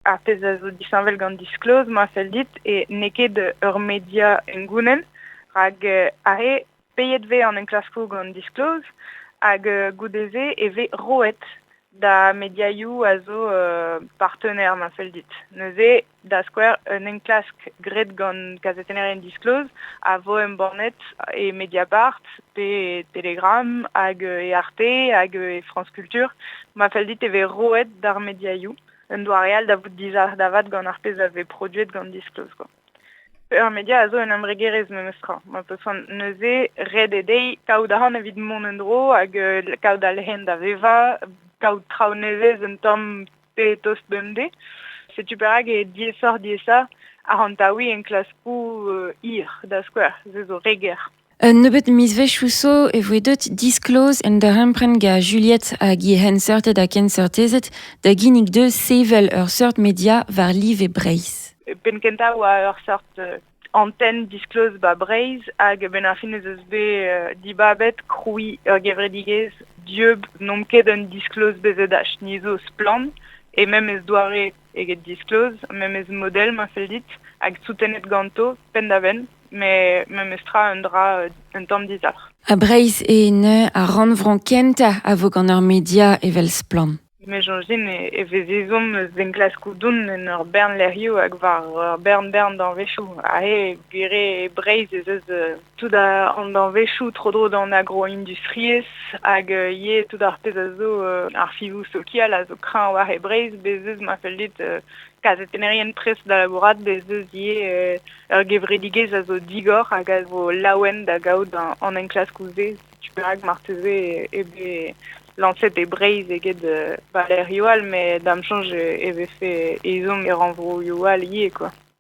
ar pezh a zo disheñvel gant Disclose, ma fell dit, e n'eo ket ur media engounnen, rak are peiet vez an enklaskoù gant Disclose, hag goude-se e vez roet da mediaioù a zo uh, partenaire, ma fell dit. Neuze, da skouer, un enklask graet gant kazetennerien Disclose a vo embannet e Mediapart pe Telegram hag e Arte hag e France Culture. Ma fell dit e vez roet d'ar mediaioù un doare all da vout dizalc'h da vat gant ar pezh a vez produet gant Disclose. Quoi. Ur media a zo un embregerezh memes tra. Ma peus neuze ret eo dezhi kaout ahont evit mont en dro hag euh, kaout al hen da vevañ, kaout traoù nevez un tamm pe tost bemdez. Setu perak e diesoc'h diesa ahont taoui enklaskoù euh, hir, da skouer, se zo re ger. Un nebeud mizvezhioù zo e voe deuet disklozh un darempred gant Juliet hag he c'henseurted ha kenseurtezed da ginnig dezhe sevel ur seurt media war live Breizh. E penn kentañ e oa ur seurt euh, antenn diskloz ba Breizh hag benn ar fin ez eus bet euh, dibabet krouiñ ur gevredigezh dieub n'omp ket un diskloz bezet ach ni zo splann et même ez doare eget diskloz, memes model ma fell dit, hag soutenet ganto penn-da-benn, met memes tra un dra un tamm dizalc'h. Ha Breizh eo neuze ar rannvro kentañ a vo gant ur media evel Splann. Me soñj din e vez ezhomm eus enklaskoù doun en ur bern lec'hioù hag war ur bern-bern danvezioù. Aze, gwir eo, Breizh ez eus tout an danvezhioù tro-dro d'an agroindustriezh hag euh, ivez tout ar pezh a zo euh, ar fivoù sokial a zo kreñv war e Breizh bez eus ma fell dit euh, kazetennerien prest da labourat bez eus ivez ur gevredigezh a zo digor hag a zo laouen da gaout an enklaskoù-se tu perak marteze e be lañset e Breizh eget ba lec'hioù all met da'm soñj e vefe ezhomm e rannvroioù all ivez quoi.